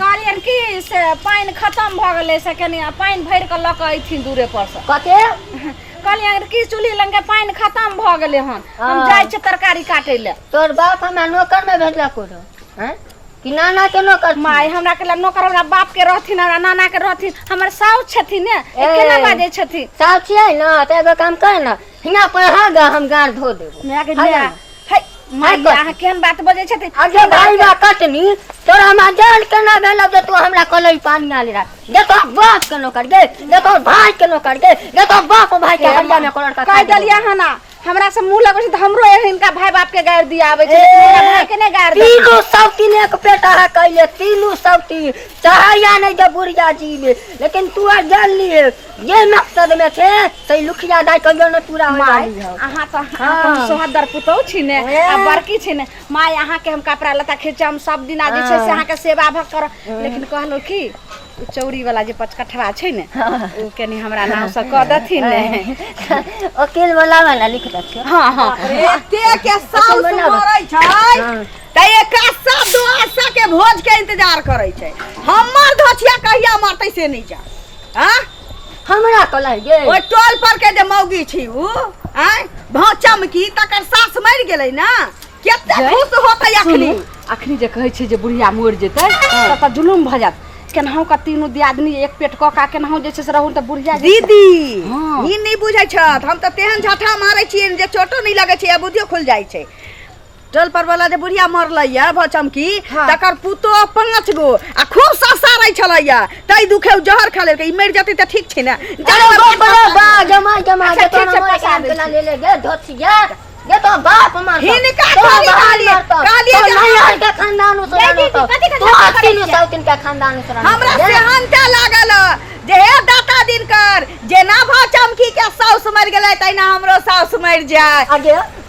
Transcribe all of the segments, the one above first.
कहलियन कि से पानि खतम भऽ गेलै से कनि आ पानि भरि कऽ लऽ कऽ अयथिन दूरे पर से कते कहलियन कि चूल्ही लग के पानि खतम भऽ गेलै हन हम हँ। जाइ छियै तरकारी काटै लए तोर बाप हमरा नौकर में भेजला करो हैं कि नाना के नौकर छी? माय हमरा के लए नौकर हमरा बाप के रहथिन हमरा नाना के रहथिन हमर साउस छथिन ने ए। केना बाजै छथिन साउस छियै ने तऽ एगो काम कर ने हिना पर अहाँ गा हम गाड़ धो देबो माय के माय माय के अहाँ केहन बात बजै छथिन अगे भाई बा कटनी तोरा हमरा जान के ना भेल जे तू हमरा कलई पानी आले रहा देखो बाप के नौकर गे देखो भाई के नौकर गे देखो बाप भाई के हरिया में कलर का कह देलिया है ना हमरा से मुंह लगै छै त हमरो एहन इनका भाई बाप के गाड़ दिया आबै छै लेकिन हमरा भाई के नै गाड़ दे तीनू सब तीन एक पेट अहाँ कैले तीनू सब तीन चाहैया नहीं जब बुढ़िया जी में लेकिन तू आ जान लिए ये मकसद में छे तै लुखिया दाई कहियो न पूरा होय माय वाली हौ अहाँ तो हाँ। अपन सोहदर पुतौ छी ने ए। आ बड़की छी ने माय अहाँ के हम कपड़ा लता खींचे हम सब दिन आज छै से अहाँ के सेवा भक कर लेकिन कहलो कि उ चौरी वाला जे पचकठवा छै ने उ कनी हमरा नाम से कह देथिन ने ओकिल बोला वाला लिख दथियो हाँ हाँ एते के साउस मना बा। मरै छै हाँ। त एका सब दोस्त के भोज के इंतजार करै छै हमर धोछिया कहिया मरतै से नहीं जा आ हमरा तो लग गेल ओहि टोल पर के जे मौगी छी उ आय भाव चमकी तकर सास मरि गेलै ना केते जय। खुश होतै अखनी सुनू, अखनी जे कहै छै जे बुढ़िया मरि जेतै तब तऽ जुलुम भऽ जायत केनाहु का तीनू दियादनी एक पेट कऽ का केनाहु जे छै से रहू तऽ बुढ़िया जे छै- दीदी हाँ। ई नहि बुझै छथ हम तऽ तेहन झठा मारै छियै जे चोटो नहि लगै छै आ बुद्धियो खुल जाइ छै टोल पर वाला जे बुढ़िया मरले या भऽ चमकी हाँ। तकर पुतो पांच गो आ खूब ससारै छलै या तै दुखे उ जहर खा लेलकै ई मरि जेतै तऽ ठीक छै ने अरे बा बा बा जमा जमा अच्छा, जे ठीक तोरा छै, मोर पैसा काम दै केना छी। ले ले गे धोतिया गे तो बाप मार हिनका थोड़ी कहलियै, कहलियै जे नहीं हम- हर के खानदान उस देखी कि कथी के तो झगड़ा करै तीनों छियै? साल तीन के खानदान उस हमरा सेहनता लागल जे हे दाता दिनकर जेना भऽ चमकी के साउस मरि गेलै तहिना हमरो साउस मरि जाय अगे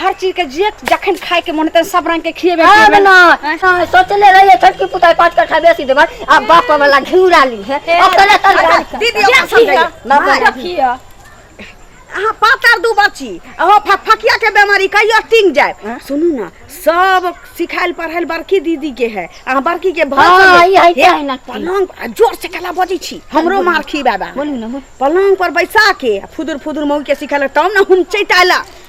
हर चीज के जे जखन खाए के मन हेतै सब रंग के खिएबे आब खिएबे ना हाँ, सोचले रहिए छोटकी पुताई पाँच कट्ठा बेसी देबै आ बाप वाला घिउरा ली है अपने तरकारी खा। दीदी ओकरा समझाइए ना माय। देखियो अहाँ पातर दू बच्ची अहाँ फकफकिया के बेमारी कहियो टिंग जाए सुनू ना सब सिखायल पढ़ायल बड़की दीदी के है अहाँ बड़की के भर हाँ, देबै। ई है, हे, है ना। पलंग पर- आ, जोर से कला बजै छी हमरो मार खी बाबा बोलू ना बोल पलंग पर बैसा के आ फुदुर फुदुर मौगी के सिखायल तब ने हम चैताला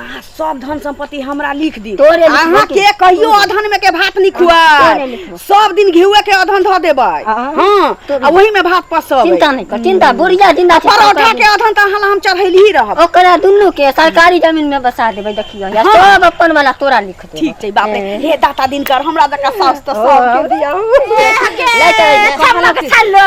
अहाँ सब धन संपत्ति हमरा लिख दियौ तोरे लिखबो अहाँ के- के कहियो अधन में के भात नहीं तोरे खुआए लिखबो। सब दिन घिउए के अधन धऽ देबै हाँ। हाँ आ वही में भात पसबै चिंता नहीं कर चिंता बुढ़िया जिंदा छै परोठा के अधन तऽ अहाँ ला हम चढ़ैली ही रहब ओकरा दुनू के सरकारी जमीन में बसा देबै देखियो या हाँ। सब अपन वाला तोरा लिख देबै ठीक छै बाप रे हे दाता दिनकर हमरा जकाँ सास तऽ सब के दियौ ले चल सब लोग छल्लो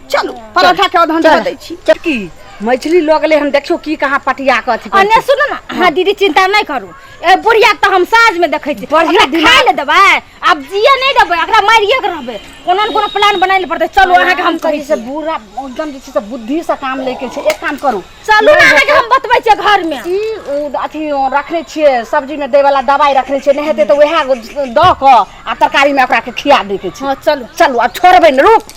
चलू परोठा के अधन दे दै छी की मैथिली लोग ले हम देखियो की कहाँ पटिया के अथी अन्य सुनो ना हाँ दीदी चिंता नहीं करू ए बुढ़िया तो हम साँझ में देखे छी बढ़िया दिन खाए ले देबै अब जिए नहीं देबै एकरा मारिए के रहबै कोनो न कोनो प्लान बनाए ले पड़तै चलू अहाँ के हम कही से बुरा एकदम जे छै से बुद्धि से काम लेके छै एक काम करू चलू ना अहाँ के हम बतबै छियै घर में ई उ अथी रखने छियै सब्जी में दै वाला दवाई रखने छियै नहीं हेतै तऽ उएह दऽ कऽ आ तरकारी में ओकरा के खिया दै के छै हाँ चलू चलू आ छोड़बै ने रुक